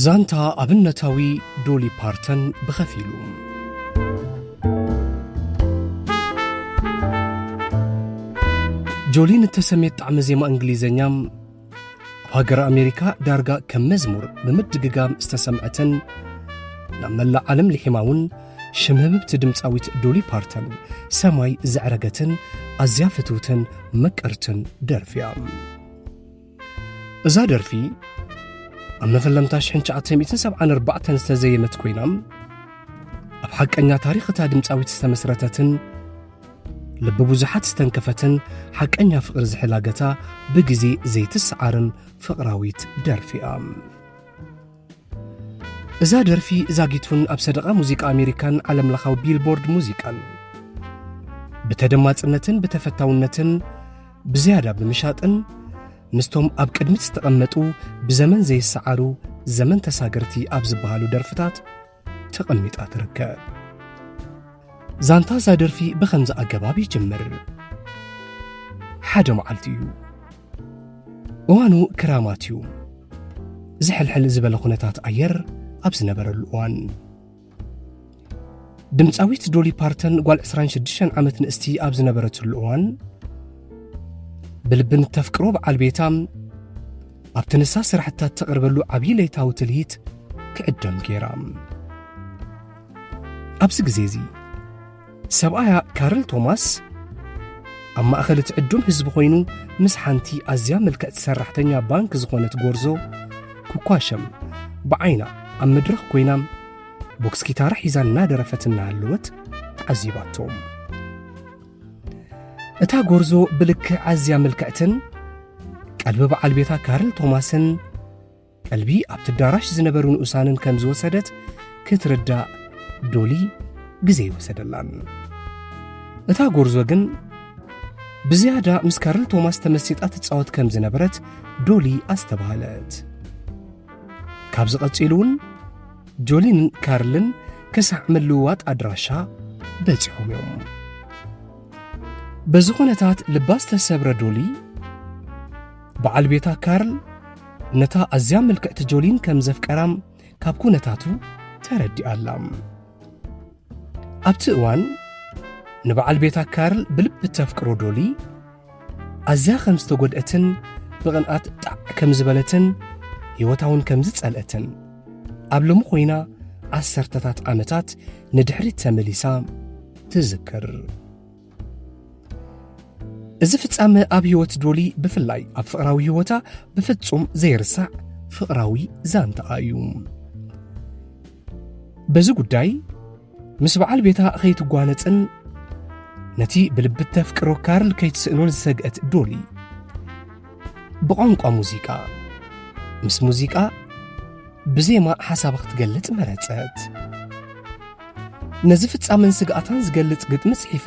ዛንታ ኣብነታዊ ዶሊ ፓርተን ብኸፊሉ ጆሊን እተሰሜት ጣዕሚ ዜማ እንግሊዘኛ ኣብ ሃገር ኣሜሪካ ዳርጋ ከም መዝሙር ብምድግጋም ዝተሰምዐትን ናብ መላእ ዓለም ልሒማ እውን ሽም ህብብቲ ድምፃዊት ዶሊ ፓርተን ሰማይ ዘዕረገትን ኣዝያ ፍትውትን መቀርትን ደርፊያ እዛ ደርፊ ኣብ መፈለምታ 1974 ዝተዘየመት ኮይና ኣብ ሓቀኛ ታሪኽ እታ ድምፃዊት ዝተመስረተትን ልቢ ብዙሓት ዝተንከፈትን ሓቀኛ ፍቕሪ ዝሕላገታ ብግዜ ዘይትሰዓርን ፍቕራዊት ደርፊ እያ እዛ ደርፊ ዛጊቱን ኣብ ሰደቓ ሙዚቃ ኣሜሪካን ዓለም ለኻዊ ቢልቦርድ ሙዚቃን ብተደማፅነትን ብተፈታውነትን ብዝያዳ ብምሻጥን ምስቶም ኣብ ቅድሚት ዝተቐመጡ ብዘመን ዘይሰዓሩ ዘመን ተሳገርቲ ኣብ ዝበሃሉ ደርፍታት ተቐሚጣ ትርከብ። ዛንታ እዛ ደርፊ ብኸምዚ ኣገባብ ይጅምር። ሓደ መዓልቲ እዩ። እዋኑ ክራማት እዩ። ዝሕልሕል ዝበለ ኩነታት ኣየር ኣብ ዝነበረሉ እዋን ድምፃዊት ዶሊ ፓርተን ጓል 26 ዓመት ንእስቲ ኣብ ዝነበረትሉ እዋን ብልብን ተፍቅሮ በዓል ቤታ ኣብቲ ንሳ ስራሕትታት ተቕርበሉ ዓብዪ ለይታዊ ትልሂት ክዕደም ገይራ ኣብዚ ግዜ እዚ ሰብኣያ ካርል ቶማስ ኣብ ማእኸል እቲ ዕዱም ህዝቢ ኮይኑ ምስ ሓንቲ ኣዝያ ምልክዕቲ ሰራሕተኛ ባንክ ዝኾነት ጎርዞ ክኳሸም ብዓይና ኣብ መድረኽ ኮይና ቦክስ ኪታራ ሒዛ እናደረፈት እናሃለወት ተዓዚባቶም እታ ጎርዞ ብልክዕ ኣዝያ ምልክዕትን ቀልቢ በዓል ቤታ ካርል ቶማስን ቀልቢ ኣብቲ ኣዳራሽ ዝነበሩ ንኡሳንን ከም ዝወሰደት ክትርዳእ ዶሊ ግዜ ይወሰደላን እታ ጎርዞ ግን ብዝያዳ ምስ ካርል ቶማስ ተመሲጣ ትፃወት ከም ዝነበረት ዶሊ ኣስተባሃለት ካብዚ ቀፂሉ እውን ጆሊንን ካርልን ክሳዕ ምልውዋጥ ኣድራሻ በጺሖም እዮም በዚ ኹነታት ልባ ዝተሰብረ ዶሊ በዓል ቤታ ካርል ነታ ኣዝያ ምልክዕቲ ጆሊን ከም ዘፍቀራም ካብ ኩነታቱ ተረዲኣላ ኣብቲ እዋን ንበዓል ቤታ ካርል ብልቢ ተፍቅሮ ዶሊ ኣዝያ ከም ዝተጐድአትን ብቕንኣት ጣዕ ከም ዝበለትን ህይወታውን ከም ዝጸልአትን ኣብ ሎሚ ኾይና ዓሰርተታት ዓመታት ንድሕሪት ተመሊሳ ትዝክር። እዚ ፍጻመ ኣብ ህይወት ዶሊ ብፍላይ ኣብ ፍቕራዊ ህይወታ ብፍጹም ዘይርሳዕ ፍቕራዊ ዛንታኣ እዩ በዚ ጉዳይ ምስ በዓል ቤታ ኸይትጓነጽን ነቲ ብልቢ እተፍቅሮ ካርል ከይትስእኖን ዝሰግአት ዶሊ ብቋንቋ ሙዚቃ ምስ ሙዚቃ ብዜማ ሓሳባ ክትገልጽ መረጸት ነዚ ፍጻመን ስግኣታን ዝገልጽ ግጥሚ ጽሒፋ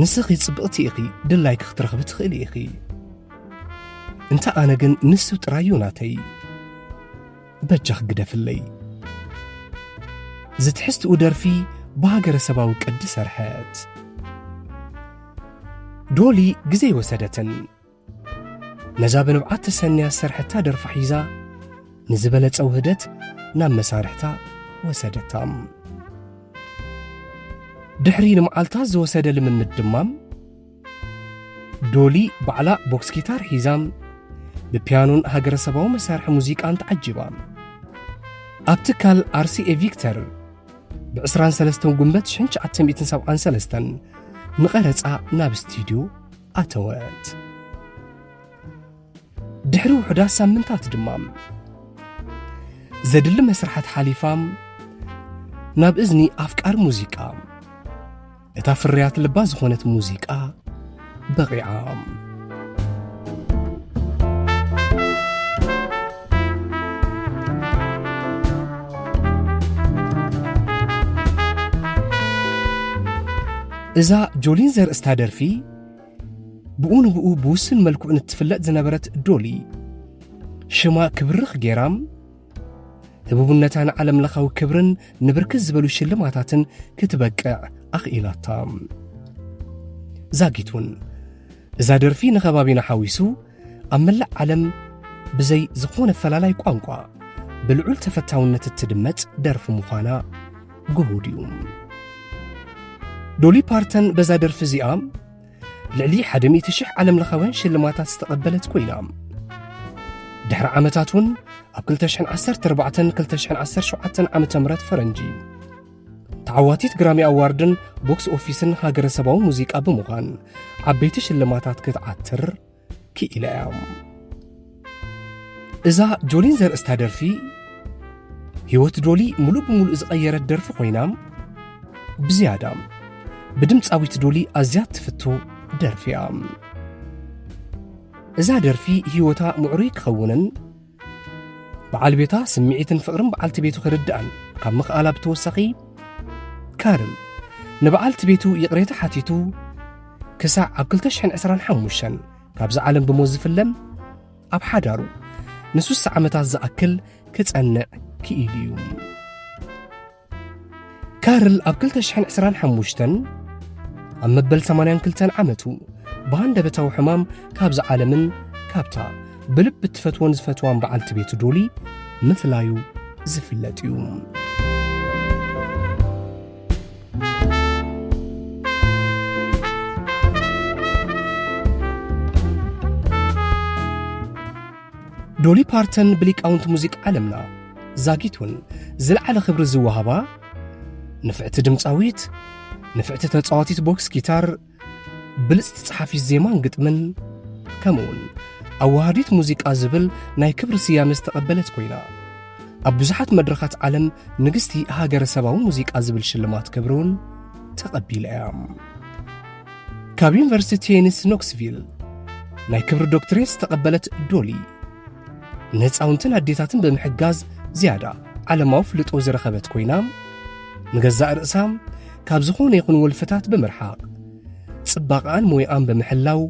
ንስኺ ጽብቕቲ ኢኺ ድላይኪ ክትረኽቢ ትኽእሊ ኢኺ እንተ ኣነ ግን ንሱ ጥራዩ ናተይ በጃኽ ግደፍለይ ዝትሕዝትኡ ደርፊ ብሃገረሰባዊ ቅዲ ሰርሐት ዶሊ ግዜ ወሰደትን ነዛ ብንብዓት ተሰንያ ዝሰርሐታ ደርፊ ሒዛ ንዝበለጸ ውህደት ናብ መሳርሕታ ወሰደታ ድሕሪ ንመዓልታት ዝወሰደ ልምምድ ድማ ዶሊ ባዕላ ቦክስ ጊታር ሒዛም ብፒያኖን ሃገረሰባዊ መሳርሒ ሙዚቃን ተዓጂባ ኣብ ትካል ኣርሲኤ ቪክተር ብ23 ጉንበት 1973 ንቐረፃ ናብ ስቱድዮ ኣተወት። ድሕሪ ውሑዳት ሳምንታት ድማ ዘድሊ መስርሓት ሓሊፋ ናብ እዝኒ ኣፍቃሪ ሙዚቃ እታ ፍርያት ልባ ዝኾነት ሙዚቃ በቒዓ። እዛ ጆሊን ዘርእስታ ደርፊ ብኡ ንብኡ ብውስን መልክዑ ንትፍለጥ ዝነበረት ዶሊ ሽማ ክብርኽ ገይራም ህቡብነታ ንዓለም ለኻዊ ክብርን ንብርክት ዝበሉ ሽልማታትን ክትበቅዕ ኣኽኢላታ ዛጊት እውን እዛ ደርፊ ንከባቢና ሓዊሱ ኣብ መላእ ዓለም ብዘይ ዝኾነ ፈላላይ ቋንቋ ብልዑል ተፈታውነት እትድመጽ ደርፊ ምዃና ግሁድ እዩ። ዶሊ ፓርተን በዛ ደርፊ እዚኣ ልዕሊ 100,000 ዓለም ለኻውያን ሽልማታት ዝተቐበለት ኮይና ድሕሪ ዓመታት እውን ኣብ 2014-2017 ዓ ም ፈረንጂ ተዓዋቲት ግራሚ ኣዋርድን ቦክስ ኦፊስን ሃገረሰባዊ ሙዚቃ ብምዃን ዓበይቲ ሽልማታት ክትዓትር ክኢላ እያ እዛ ጆሊን ዘርእስታ ደርፊ ህይወት ዶሊ ሙሉእ ብምሉእ ዝቐየረት ደርፊ ኮይና ብዝያዳ ብድምፃዊት ዶሊ ኣዝያ ትፍቶ ደርፊ እያ እዛ ደርፊ ህይወታ ምዕሩይ ክኸውንን በዓል ቤታ ስምዒትን ፍቕርን በዓልቲ ቤቱ ክርድኣን ካብ ምኽኣላ ብተወሳኺ ካርል ንበዓልቲ ቤቱ ይቕሬታ ሓቲቱ ክሳዕ ኣብ 225 ካብዚ ዓለም ብሞት ዝፍለም ኣብ ሓዳሩ ንሱሳ ዓመታት ዝኣክል ክጸንዕ ክኢሉ እዩ ካርል ኣብ 225 ኣብ መበል 82 ዓመቱ ብሃንደበታዊ ሕማም ካብዚ ዓለምን ካብታ ብልቢ እትፈትዎን ዝፈትዋን በዓልቲ ቤቱ ዶሊ ምፍላዩ ዝፍለጥ እዩ ዶሊ ፓርተን ብሊቃውንቲ ሙዚቃ ዓለምና ዛጊቱን ዝለዓለ ክብሪ ዝወሃባ ንፍዕቲ ድምፃዊት ንፍዕቲ ተፃዋቲት ቦክስ ጊታር ብልፅቲ ፀሓፊት ዜማን ግጥምን ከምኡውን ኣዋሃዲት ሙዚቃ ዝብል ናይ ክብሪ ስያመ ዝተቐበለት ኮይና ኣብ ብዙሓት መድረኻት ዓለም ንግስቲ ሃገረሰባዊ ሙዚቃ ዝብል ሽልማት ክብሪ እውን ተቐቢላ እያ ካብ ዩኒቨርሲቲ ቴኒስ ኖክስቪል ናይ ክብሪ ዶክትሬት ዝተቐበለት ዶሊ ንህፃውንትን ኣዴታትን ብምሕጋዝ ዝያዳ ዓለማዊ ፍልጦ ዝረኸበት ኮይና ንገዛእ ርእሳ ካብ ዝኾነ ይኹን ወልፍታት ብምርሓቕ ጽባቐኣን ሞይኣን ብምሕላው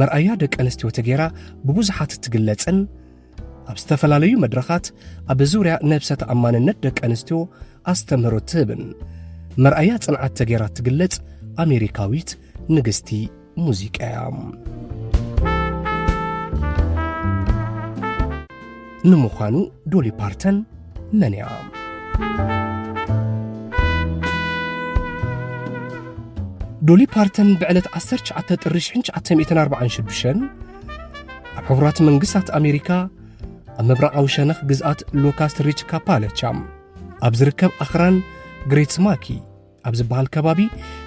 መርኣያ ደቂ ኣንስትዮ ተገይራ ብብዙሓት እትግለጽን ኣብ ዝተፈላለዩ መድረኻት ኣብ ዙርያ ነብሰ ተኣማንነት ደቂ ኣንስትዮ ኣስተምህሮ ትህብን መርኣያ ጽንዓት ተገይራ እትግለጽ ኣሜሪካዊት ንግስቲ ሙዚቃ እያ ንምዃኑ ዶሊ ፓርተን መን እያ ዶሊ ፓርተን ብዕለት 19 ጥሪ 1946 ኣብ ሕቡራት መንግስታት ኣሜሪካ ኣብ ምብራቓዊ ሸነኽ ግዝኣት ሎካስት ሪች ካፓለቻ ኣብ ዝርከብ ኣኽራን ግሬት ስማኪ ኣብ ዝበሃል ከባቢ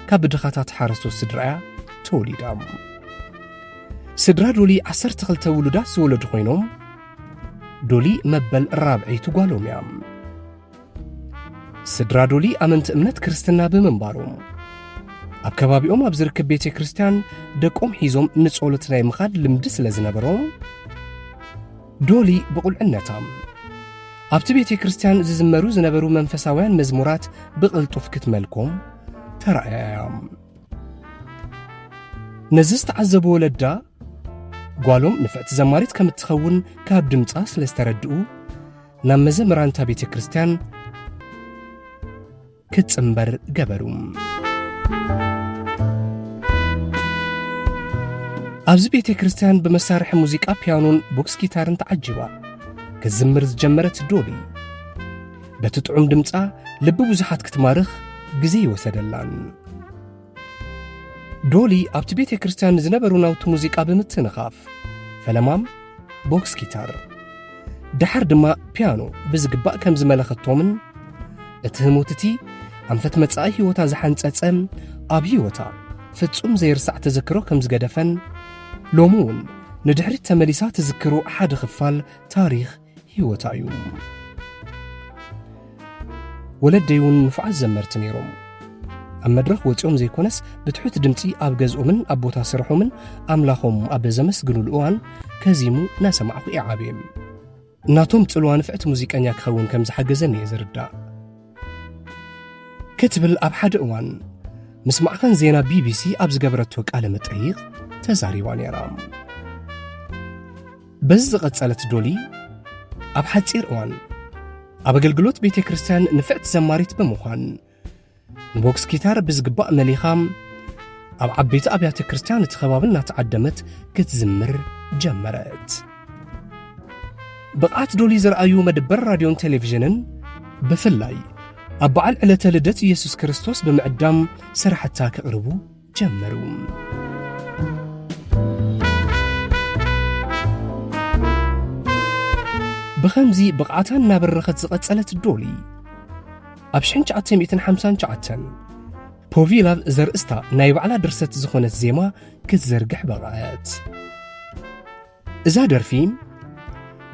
ካብ ብድኻታት ሓረስቶት ስድራያ ተወሊዳ ስድራ ዶሊ 12 ውሉዳት ዝወለዱ ኮይኖም ዶሊ መበል ራብዐይቲ ጓሎም እያ ስድራ ዶሊ ኣመንቲ እምነት ክርስትና ብምንባሮም ኣብ ከባቢኦም ኣብ ዝርከብ ቤተ ክርስቲያን ደቆም ሒዞም ንጸሎት ናይ ምኻድ ልምዲ ስለ ዝነበሮም ዶሊ ብቑልዕነታ ኣብቲ ቤተ ክርስቲያን ዝዝመሩ ዝነበሩ መንፈሳውያን መዝሙራት ብቕልጡፍ ክትመልኮም ተራእያዮም ነዚ ዝተዓዘቡ ወለዳ ጓሎም ንፍዕቲ ዘማሪት ከም እትኸውን ካብ ድምፃ ስለ ዝተረድኡ ናብ መዘምራን እታ ቤተ ክርስቲያን ክትጽምበር ገበሩ። ኣብዚ ቤተ ክርስቲያን ብመሳርሒ ሙዚቃ ፒያኖን ቦክስ ጊታርን ተዓጂባ ክትዝምር ዝጀመረት ዶሊ በቲ ጥዑም ድምፃ ልቢ ብዙሓት ክትማርኽ ግዜ ይወሰደላን ዶሊ ኣብቲ ቤተ ክርስቲያን ንዝነበሩ ናውቲ ሙዚቃ ብምትንኻፍ ፈለማም ቦክስ ጊታር ደሓር ድማ ፒያኖ ብዝግባእ ከም ዝመለኸቶምን እቲ ህሞት እቲ ኣንፈት መጻኢ ህይወታ ዝሓንጸጸ ኣብ ህይወታ ፍጹም ዘይርሳዕ ተዘክሮ ከም ዝገደፈን ሎሚ እውን ንድሕሪት ተመሊሳ ትዝክሮ ሓደ ኽፋል ታሪኽ ህይወታ እዩ። ወለደይ እውን ንፉዓት ዘመርቲ ነይሮም። ኣብ መድረኽ ወፂኦም ዘይኮነስ ብትሑት ድምፂ ኣብ ገዝኦምን ኣብ ቦታ ስርሖምን ኣምላኾም ኣብ ዘመስግኑሉ እዋን ከዚሙ እናሰማዕኹ እየ ዓብየ እናቶም ፅልዋ ንፍዕቲ ሙዚቀኛ ክኸውን ከም ዝሓገዘኒ እየ ዝርዳእ ክትብል ኣብ ሓደ እዋን ምስ ማዕኸን ዜና ቢቢሲ ኣብ ዝገበረቶ ቃለ መጠይቕ ተዛሪባ ነይራ በዚ ዝቐጸለት ዶሊ ኣብ ሓጺር እዋን ኣብ ኣገልግሎት ቤተ ክርስቲያን ንፍዕቲ ዘማሪት ብምዃን ንቦክስ ኪታር ብዝግባእ መሊኻ ኣብ ዓበይቲ ኣብያተ ክርስቲያን እቲ ከባቢ እናተዓደመት ክትዝምር ጀመረት ብቕዓት ዶሊ ዝረኣዩ መድበር ራድዮን ቴሌቭዥንን ብፍላይ ኣብ በዓል ዕለተ ልደት ኢየሱስ ክርስቶስ ብምዕዳም ስራሕታ ከቕርቡ ጀመሩ። ብኸምዚ ብቕዓታ እናበረኸት ዝቐጸለት ዶሊ ኣብ 1959 ፖቪላቭ ዘርእስታ ናይ ባዕላ ድርሰት ዝኾነት ዜማ ክትዘርግሕ በቕዐት። እዛ ደርፊ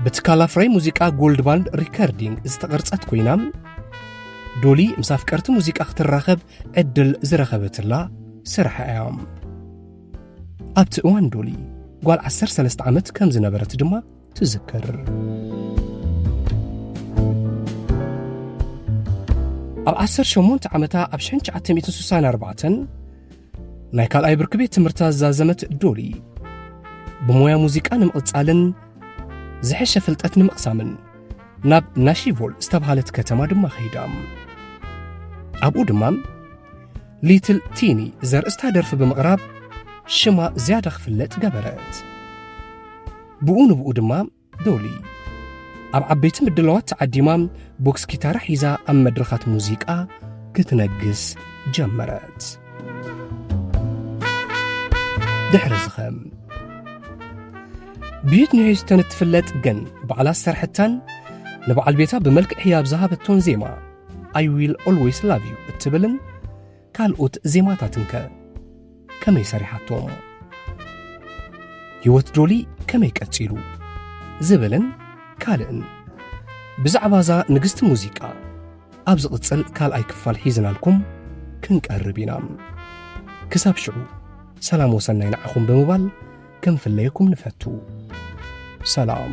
ብትካል ኣፍራይ ሙዚቃ ጎልድ ባንድ ሪከርዲንግ ዝተቐርጸት ኮይና ዶሊ ምስ ኣፍቀርቲ ሙዚቃ ክትራኸብ ዕድል ዝረኸበትላ ስራሕ እያ ኣብቲ እዋን ዶሊ ጓል 13 ዓመት ከም ዝነበረት ድማ ትዝክር ኣብ 18 ዓመታ ኣብ 1964 ናይ ካልኣይ ብርኪ ቤት ትምህርታ ዝዛዘመት ዶሊ ብሞያ ሙዚቃ ንምቕጻልን ዝሐሸ ፍልጠት ንምቕሳምን ናብ ናሺቮል ዝተብሃለት ከተማ ድማ ኸይዳ ኣብኡ ድማ ሊትል ቲኒ ዘርእስታ ደርፊ ብምቕራብ ሽማ ዝያዳ ክፍለጥ ገበረት ብኡ ንብኡ ድማ ዶሊ ኣብ ዓበይቲ ምድላዋት ተዓዲማ ቦክስ ኪታራ ሒዛ ኣብ መድረኻት ሙዚቃ ክትነግስ ጀመረት ድሕሪ ዝኸም ብዩት ንሕዝተን እትፍለጥ ግን ባዕላ ዝሰርሐታን ንበዓል ቤታ ብመልክዕ ህያብ ዝሃበቶን ዜማ ኣይ ዊል ኦልዌይስ ላቭ ዩ እትብልን ካልኦት ዜማታትን ከ ከመይ ሰሪሓቶም ህይወት ዶሊ ከመይ ቀጺሉ ዝብልን ካልእን ብዛዕባ እዛ ንግስቲ ሙዚቃ ኣብ ዝቕጽል ካልኣይ ክፋል ሒዝናልኩም ክንቀርብ ኢና ክሳብ ሽዑ ሰላም ወሰናይ ንዓኹም ብምባል ክንፍለየኩም ንፈቱ ሰላም